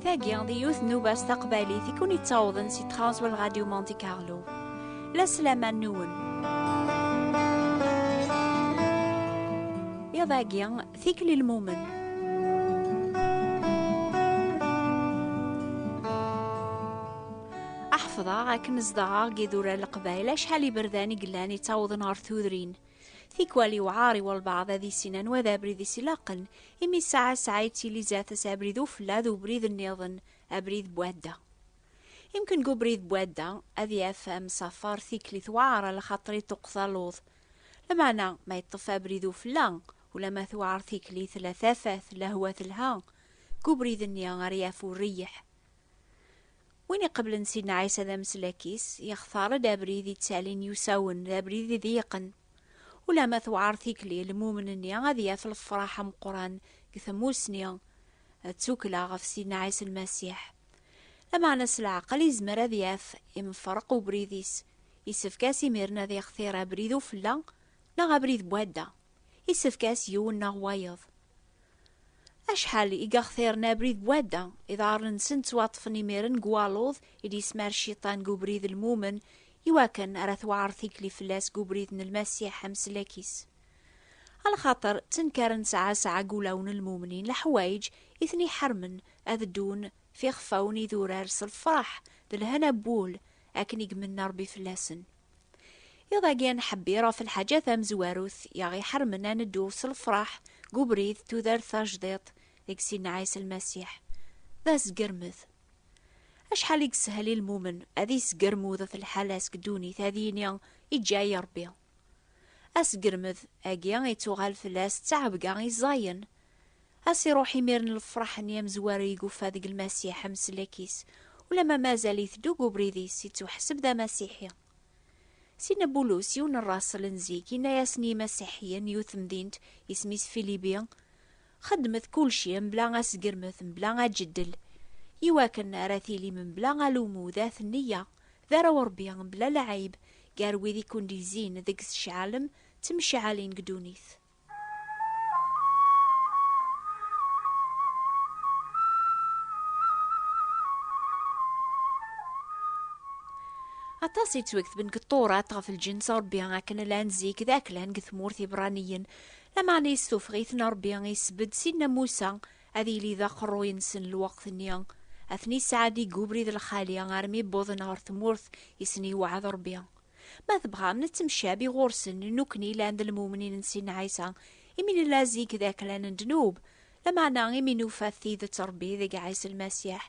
Tagi, di yiwet nubas taqbaylit i kun yettawḍen si Transworld Radio Monte Carlo. La sslam-a nwen. Iḍ-agi, tikli lmumen. Aḥefḍeɣ akken zedɣeɣ deg idurar leqbayel acḥal iberdan i yellan yettawḍen ɣer tudrin. Tikwal yewɛaṛ i walbaɛḍ ad issin anwa d abrid i s-ilaqen, imi ssaɛa ssaɛa yettili zdat-s abrid ufella d ubrid nniḍen, abrid n wadda. Imken deg ubrid n wadda ad yaf amsafer tikli tewɛaṛ ala xaṭer iṭuqet aluḍ. Lameɛna ma yeṭṭef abrid ufella, ulamma tewɛaṛ tikli tella tafat, lehwa telha, deg ubrid-nni ara yaf ureyyeḥ. Win iqeblen Sidna Ɛisa d ameslak-is, yextar-d abrid ittalin yusawen, d abrid idiqen. Ulamma tewɛer tikli, lmumen-nni ad yaf lefraḥ ameqqran deg tmusni d tukkla ɣef Sidna Ɛisa Lmasiḥ. Lameɛna s leɛqel izmer ad yaf imferq ubrid-is, yessefk-as imiren ad ixtir abrid ufella neɣ abrid n wadda. Yessefk-as yiwen neɣ wayeḍ. Acḥal i aɣ-t-irna abrid n wadda, iḍarren-nsen ttwaṭṭfen imiren deg waluḍ i d-yesmar Cciṭan deg ubrid n lmumen, i wakken ara tewɛer tikli fell-as deg ubrid n Lmasiḥ ameslak-is. A lxaṭer ttenkaren sɛa sɛa deg wulawen n lmumnin leḥwayeǧ i ten-iḥermen ad ddun f ixfawen idurar s lfeṛḥ d lhana n wul, akken i imenna Ṛebbi fell-asen. Iḍ-agi nḥebbir ɣef lḥaǧa tamezwarut i aɣ-iḥermen ad neddu s lefraḥ deg ubrid n tudert tajdiṭ deg Sidna Ɛisa Lmasiḥ, d asgermed. Acḥal i yeshel i lmumen ad yesgermud ɣef lḥala-s deg ddunit ad yini, Iǧǧa-yi Ṛebbi! Asgermed agi ittuɣal fell-as d ttɛebga i ẓẓayen. A s-iruḥ imir n lefreḥ n yamezwar i guffa deg Lmasiḥ ameslak-is, ulamma mazal-it dug ubrid-is, ittuḥseb d amasiḥi. Sina Bulus, yiwen n rasel n zik, inna-yasen i yimasiḥiyen n yiwet temdint, isem-is Filibi, Xedmet kulci mebla asgermet, mebla aǧeddel, iwakken ara tilim mebla alummu d at neyya, d arraw n Rebbi, mebla lɛib, gar wid i kund-izzin, deg-s ceɛlem, ttemceɛalin deg ddunit. aṭas yettwaktben deg ṭṭurat ɣef lǧens rebbi akken llan zik d aklan deg tmurt ibraniyen lameɛna yestufeɣ-iten rebbi isbedd sinna musa ad yili d aqerruy-nsen lweqt-nni ad ten-isɛeddi deg ubrid lxali armi wwḍen ɣer tmurt i sen-iwɛed rebbi Ma tebɣam nettemcabi ɣur-sen nekkni llan d lmumnin n Sidna Ɛisa, imi nella zik d aklan n ddnub, lameɛna imi nufa tidet n Ṛebbi deg Ɛisa Lmasiḥ,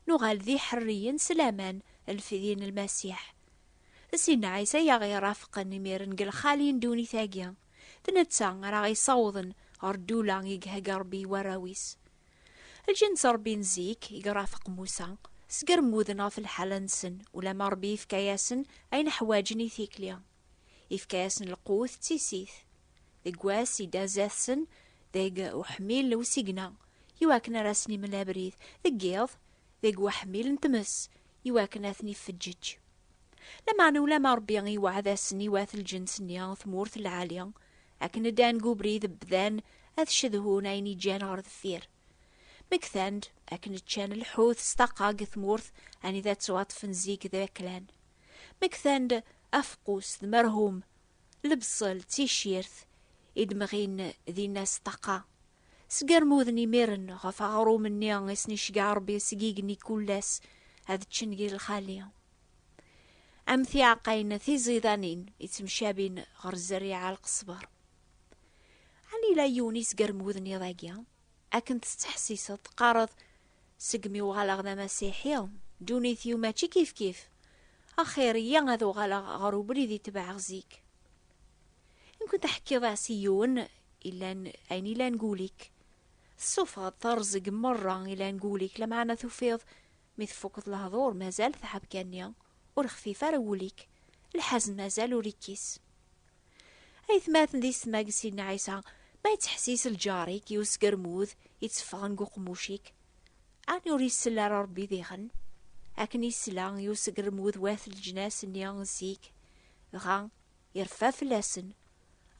nuɣal d iḥerriyen s laman n lfidi n Lmasiḥ. D Sidna Ɛisa i aɣ-irafqen imiren deg lxali n ddunit-agi, d netta ara aɣ-isawḍen ɣer ddula i ihegga Ṛebbi i warraw-is. Lǧens rebbin zik, i irafeq Musa, sger mmuden ɣef lḥala-nsen, ulamma Rebbi ifka-yasen ayen ḥwaǧen i tikli. Ifka-yasen lqut d tissit. Deg wass i d-azat-sen deg uḥmil n usigna, iwakken ar asen-imel abrid, deg yiḍ deg uḥmil n tmes, iwakken ad ten-iffeǧǧeǧ. Lameɛna ulamma Rebbi iweɛɛed-asen i wat lǧens-nni tmurt lɛali, Akken ddan deg ubrid bdan ad cedhun ayen iǧǧan ɣer deffir. Mi ktan-d, akken ččan lḥut s taqa deg tmurt anida ttwaṭfen zik d aklan. Mi ktan-d, afeqqus d merhum, lebṣel d ticirt i d-mɣin dinna s taqa. Sgermuden imiren ɣef aɣrum-nni i sen-iceggeɛ Rebbi seg igenni kullas ad ččen di lxali. am tiɛeqqayin tiẓidanin yettemcabin ɣer zzerriɛa lqesber. Ɛni yella yiwen yesgerm wudniḍ-agi? Akken tettḥessiseḍ teqqareḍ segmi uɣaleɣ d amasiḥi, ddunit-iw mačči kifkif. Axir iyya ad uɣaleɣ ɣer ubrid i tebɛeɣ zik. Mkun teḥkiḍ-as i yiwen ilan ayen ilan gul-ik. Tessufɣeḍ terẓeg merra ilan gul-ik, lameɛna tufiḍ Mi tfukeḍ lehdur mazal tɛebga-nni ur xfif ara wul-ik, lḥazen mazal ur ikkis. Aytmaten d istmagsin n Ɛisa, ma yettḥessis lǧar-ik i usgermud itteffɣen deg uqemmuc-ik, ɛni ur isell ara Rebbi diɣen? Akken isla i usgermud wat leǧnas-nni zik, dɣa ireffa fell-asen,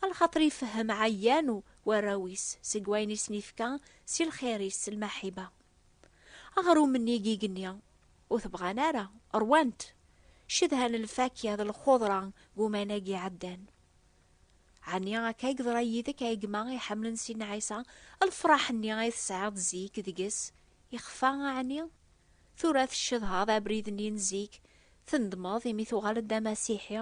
alxaṭer ifehhem ɛeyyan warraw-is seg wayen i sen-ifka si lxir-is s lmaḥiba. Aɣrum-nni i yigenni ur t-bɣan ara, rwan-t, cedhan lfakya d lxudra deg umanag iɛeddan. Ɛni akka i yeḍra yid-k a gma iḥemmlen Sidna Ɛisa, lefraḥ-nni ay tesɛiḍ zik deg-s yexfa ɛni? Tura tcedhaḍ abrid-nni n zik, tendmeḍ imi tuɣaleḍ d amasiḥi?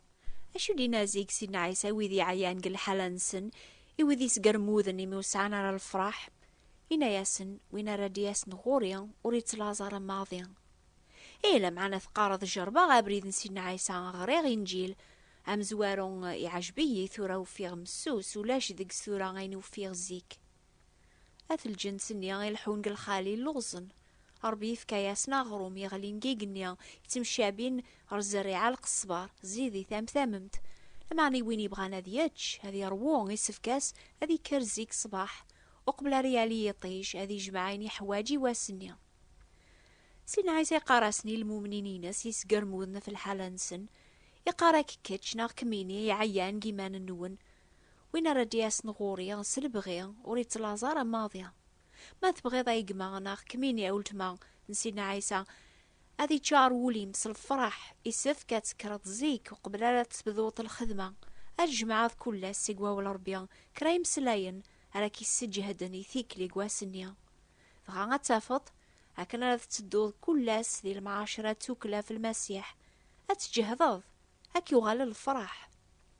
Acu d-yenna zik Sidna Ɛisa i wid yeɛyan deg lḥala-nsen, i wid yesgermuden imi ur sɛan ara lefṛaḥ? Yenna-yasen, Win ara d-yasen ɣur-i, ur yettlaẓ ara maḍi. Ih, lameɛna teqqareḍ jerbeɣ abrid n Sidna Ɛisa, ɣriɣ Inǧil amezwaru, iɛjeb-iyi, tura ufiɣ messus, ulac deg-s tura ayen i ufiɣ zik. At lǧens-nni i leḥḥun deg lxali lluẓen. Rebbi yefka-yasen aɣrum yeɣlin deg igenni, yettemcabin ɣer zzerriɛa lqesber, zidit am tamemt. Lameɛna i win yebɣan ad yečč, ad yeṛwu, isefk-as ad yekker zik ṣṣbeḥ, uqbel ara yali yiṭij, ad yejmeɛ ayen yeḥwaǧ i wass-nni. Sidna Ɛisa yeqqar-asen i lmumnin-ines yesgermuden ɣef lḥala-nsen, Iqqar-ak kečč neɣ kemmini iɛeyyan deg yiman-nwen, Win ara d-yasen ɣur-i s lebɣi, ur ittlaẓ ara maḍi. Ma tebɣiḍ a gma, neɣ kemmini a weltma n Sidna Ɛisa, ad iččar wul-im s lefraḥ, isefk ad tekkreḍ zik uqbel ara tebduḍ lxedma. Ad tjemɛeḍ kul ass seg Wawal Rebbi kra imeslayen ara k-isseǧehden i tikli n wass-nni. Dɣa ad tafeḍ, akken ara tettedduḍ kul ass di lemɛaceṛa d tukkla f Lmasiḥ, ad tǧehdeḍ, ad k-yuɣal lefraḥ.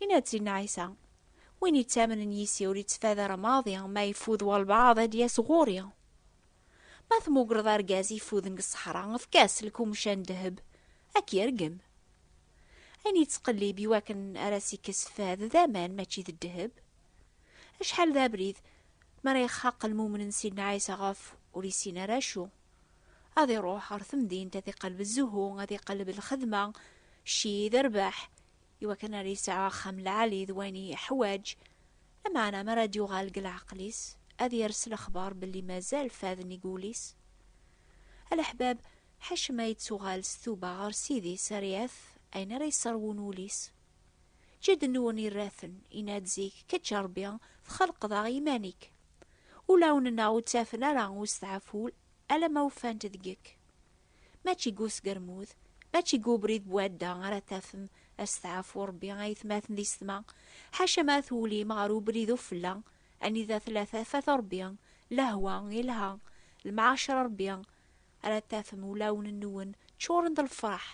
Yenna-d Sidna Ɛisa, Win yettamnen yis-i ur yettfader maḍi, ma ifud walbaɛḍ ad d-yas ɣur-i. Ma tmugreḍ argaz ifuden deg ṣṣeḥra, efk-as lkumca n ddheb, ad k-yergem. Ayen yettqellib i wakken ara s-ikkes fad d aman mačči d ddheb. Acḥal d abrid mi ara ixaq lmumen n Sidna Ɛisa ɣef ur yessin ara acu. Ad iruḥ ɣer temdint ad iqelleb zzuhu, ad iqelleb lxedma, cci d rrbeḥ, iwakken ar yesɛu axxam lɛali d wayen yeḥwaǧ. Lameɛna mi ara d-yuɣal deg leɛqel-is, ad yers lexbar belli mazal faden deg wul-is. A leḥbab, ḥaca ma yettuɣal s tuba ɣer Ssid-is ar yaf ayen ara yesserwun wul-is. Jedden-nwen irra-ten, yenna-d zik, Kečč a Rebbi, txelqeḍ-aɣ iman-ik. Ulawen-nneɣ ur ttafen ara usteɛful alamma ufan-t deg-k. Mačči deg usgermud, mačči deg ubrid n wadda ara tafem asteɛfu n Rebbi a yetmaten di setma, ḥaca ma twulim ɣer ubrid ufella, anida tella tafat n Rebbi, lehwa, ilha, lemɛacer n Rebbi, ara tafem ulawen-nwen ččuren d lefreḥ,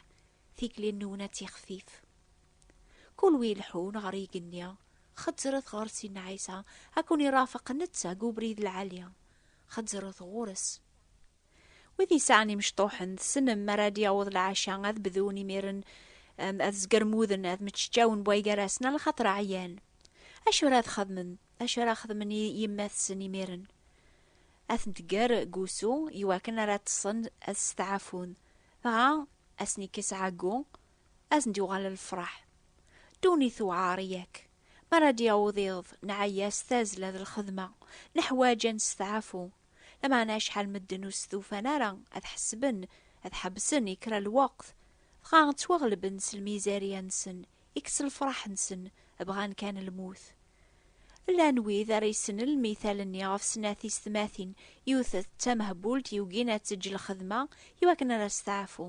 tikli-nwen ad tixfif. Kul wi ileḥḥun ɣer yigenni, xezzret ɣer Sidna Ɛisa, ad ken-irafeq netta deg ubrid lɛali. Xezzret ɣur-s. Wid yesɛan imecṭuḥen, tessnem, mi ara d-yaweḍ lɛaca, ad bdun imiren ad zgermuden, ad meččawen bwaygar-asen, ala xaṭer ɛyan. Acu ara txedmem? Acu ara xedmen yemma-tsen imiren? Ad ten-tger deg wusu, iwakken ara ṭṭsen ad steɛfun. Dɣa, ad sen-ikkes ɛeggu, ad sen-d-yuɣal lefraḥ. Ddunit tewɛer, yak? Mi ara d-yaweḍ iḍ, nɛeyya s tazzla d lxedma, neḥwaǧ ad nesteɛfu. Lameɛna acḥal medden ur stufan ara ad ḥesben, ad ḥebsen i kra n lweqt, dɣa ttwaɣelben s lmizarya-nsen, ikkes lefraḥ-nsen, bɣan kan lmut. Llan wid ara yessnen lmithal-nni ɣef snat tisetmatin, yiwet d tamehbult yugin ad teǧǧ lxedma iwakken ara testeɛfu.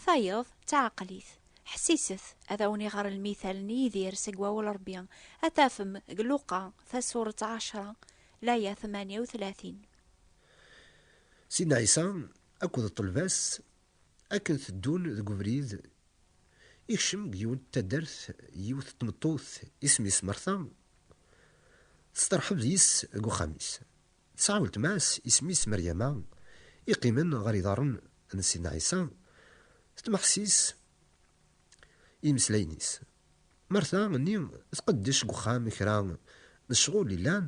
Tayeḍ d taɛeqlit, ḥessiset, ad awen-iɣer lmital n Yidir seg wawal n Rebbi, ad tafem deg Luqa tasuret ɛecra, laya tmanya u tlatin. Sidna Ɛisa akked ṭṭelba-s akken teddun deg ubrid, ikcem deg yiwet n taddart yiwet n tmeṭṭut isem-is Marta, testeṛḥeb deg-s deg uxxam-is. Tesɛa weltma-s isem-is Meryama, i qqimen ɣer iḍarren n Sidna Ɛisa, tetmeḥsis i yimeslayen-is. Marta nni tqeddec deg uxxam kra n ccɣel yellan,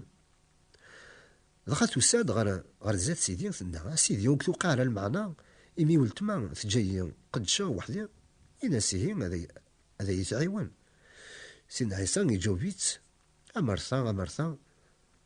dɣa tusa-d ɣer ɣer zdat Sidi, tenna, A Sidi, ur k-tuqiɛ ara lmeɛna imi weltma teǧǧa-yi qeddceɣ weḥd-i? Ini-as ihi ad iyi-tɛiwen. Sidna Ɛisa iǧaweb-itt, A Marta, a Marta!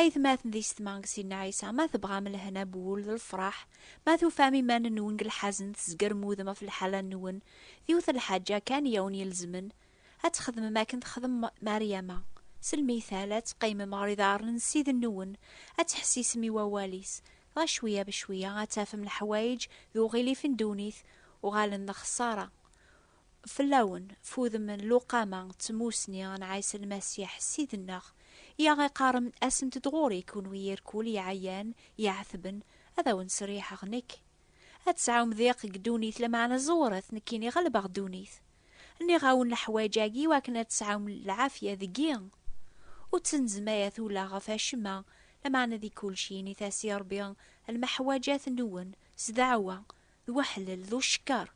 Aytmaten d ysetma deg Sidna Ɛisa, ma tebɣam lehna n wul d lefraḥ, ma tufam iman-nwen deg lḥazen, tzeggrem udem ɣef lḥala-nwen, d yiwet n lḥaǧa kan i awen-ilezmen, ad txedmem akken texdem Maryama, selmiytal, ad teqqimem ɣer iḍarren n Ssid-nwen, ad ttḥessisem i wawal-is, dɣa cwiya becwiya ad tafem leḥwayeǧ d uɣilif n ddunit uɣalen d lexṣara. Fell-awen, f udem n luqama d tmusni n Ɛisa Lmasiḥ Ssid-nneɣ, i aɣ-iqqaren, Asemt-d ɣur-i, kunwi irkul iɛeyan, iɛetben, ad awen-sseriḥeɣ nekk. Ad tesɛum diq deg ddunit, lameɛna ẓewret, nekkini ɣelbeɣ ddunit. Nniɣ-awen leḥwaǧ-agi i wakken ad tesɛum lɛafya deg-i. Ur ttnezmayet ula ɣef acemma, lameɛna di kulci init-as i Ṛebbi lmeḥwaǧat-nwen s ddeɛwa, d weḥlel, d ucekker,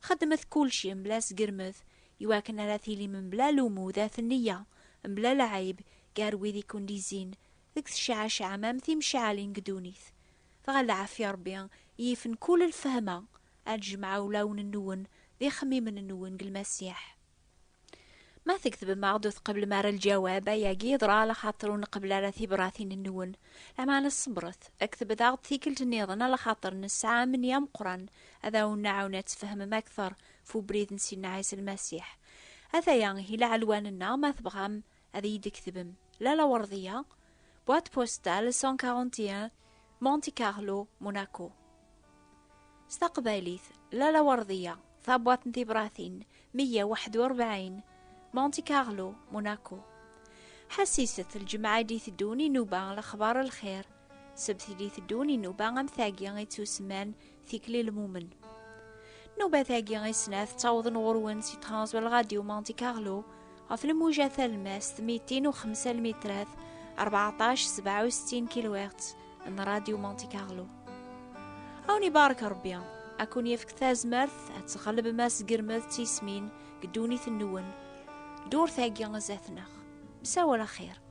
Xedmet kulci mebla asgermed, iwakken ara tilim mebla lumuḍ at nneyya, mebla lɛib gar wid i ken-d-izzin, deg tecɛacɛam am timecɛalin deg ddunit. Dɣa lɛafya Rebbi i yifen kull lfehma, ad d-jemɛeɣ ulawen-nwen d ixemmimen-nwen deg Lmasiḥ. Ma tekdbem-aɣ-d ur tqeblem ara lǧawab, ayagi yeḍra ala xaṭer ur nqebel ara tibratin-nwen. Lameɛna ṣebret, ktbet-aɣ-d tikkelt nniḍen ala xaṭer nesɛa amenni ameqqran ad awen-nɛawen ad tfehmem akteṛ f ubrid n Sidna Ɛisa Lmasiḥ. Ataya ihi laɛelwan-nneɣ, ma tebɣam Ad iyi-d-tketbem la lawerḍiya, boîte postale 141, Monte Carlo, Monaco. S taqbaylit, la lawerḍiya, tabwaḍt n tibratin 141, Monte Carlo, Monaco. Ḥassiset lǧemɛa i d-iteddun inuba lexbar lxir, sebt i d-iteddun inuba am tagi i ttusemman Tikli lmumen. Nubat-agi i snat ttawḍen ɣur-wen si Transwell Radio Monte Carlo ɣef lmuja talmast 205 lmitrat 14 67 kilowert n Radio Monte Carlo. Awen ibarek Rebbi, ad kun yefk tazmert ad tɣelbem asgermed d tismin deg ddunit-nwen, ddurt-agi zdat-neɣ. Msawal axir.